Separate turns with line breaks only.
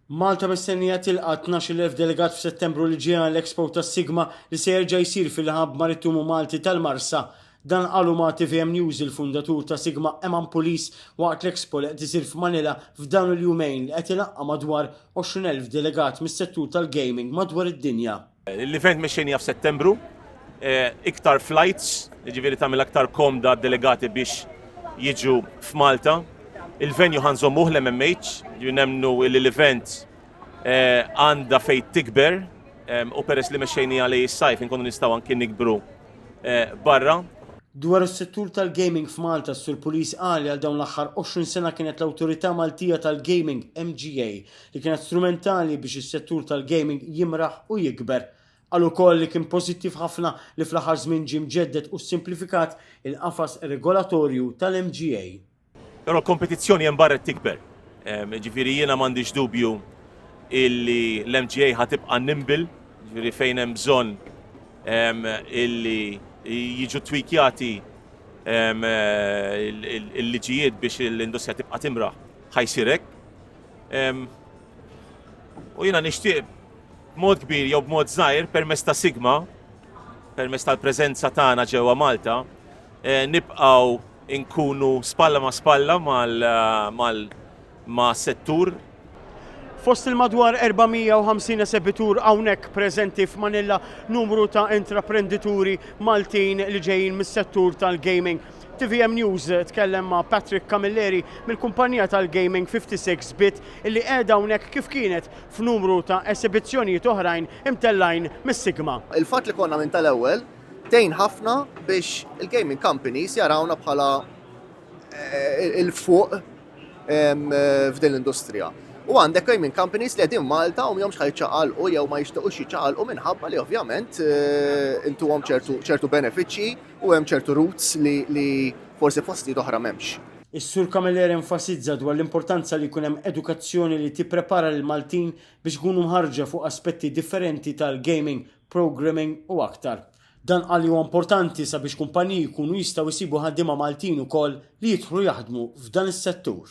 Malta mistennija tilqa' tnax-il elf delegat f'Settembru li ġej għall-Expo ta' Sigma li se jerġa' jsir fil-Hub Marittumu Malti tal-Marsa. Dan qalu ma' tvm News il-fundatur ta' Sigma Eman Pulis waqt l-Expo li qed isir f'Manila f'dawn il-jumejn li qed ilaqqa' madwar 20 elf delegat mis-settur tal-gaming madwar id-dinja. L-event mexxejnija
f'Settembru, iktar flights, jiġifieri tagħmel aktar komda d-delegati biex jiġu f'Malta. Il-venue ħa nżommuh l-MMH, jiġifieri nemmnu li l-event għandha fejn tikber u peress li mexxejnija lejn is-sajf inkunu nistgħu anki nikbru barra. Dwar
is-settur tal-gaming f'Malta, s-Sur Pulis qal li għal dawn l-aħħar 20 sena kienet l-Awtorità Maltija tal-Gaming, MGA, li kienet strumentali biex is-settur tal-gaming jimraħ u jikber. Qal ukoll li kien pożittiv ħafna li fl-aħħar żmien ġie mġedded u ssimplifikat il-qafas regolatorju tal-MGA. Però
l-kompetizzjoni hemm barra qed tikber. Jiġifieri jiena m'għandix dubju illi l-MGA ħa tibqa' nimble, jiġifieri fejn hemm bżonn illi jiġu twikjati l-liġijiet biex l-industrija tibqa' timraħ ħa jsir hekk. U jiena nixtieq b'mod kbir jew b'mod żgħir permezz ta' Sigma, permezz tal-preżenza tagħna ġewwa Malta, eh, nibqgħu nkunu spalla ma' spalla ma' settur. Fost
il-madwar 450 esebitur hawnhekk preżenti f'Manilla numru ta' intraprendituri Maltin li ġejjin mis-settur tal-gaming. Tvm News tkellem ma' Patrick Camilleri mill-kumpanija tal-gaming 56 Bit illi qiegħda hawnhekk kif kienet f'numru ta' esibizzjonijiet oħrajn imtellgħin mis-Sigma. Il-fatt li konna minn
tal-ewwel tgħin ħafna biex il-gaming companies jarawna bħala il-fuq f'din l-industrija. U għandek gaming companies li qegħdin Malta u mhomx ħa jiċċaqalqu jew ma jixtiequx jiċċaqalqu minħabba li ovvjament intuhom ċertu benefiċċji. U hemm ċertu routes li forsi f'postijiet oħra m'hemmx. Is-Sur Camilleri
enfasizza dwar l-importanza li jkun hemm edukazzjoni li tipprepara lill-Maltin biex ikunu mħarrġa fuq aspetti differenti tal-gaming, programming u aktar. Dan qal li huwa importanti sabiex kumpaniji jkunu jistgħu jsibu ħaddiema Maltin ukoll li jidħlu jaħdmu f'dan is-settur.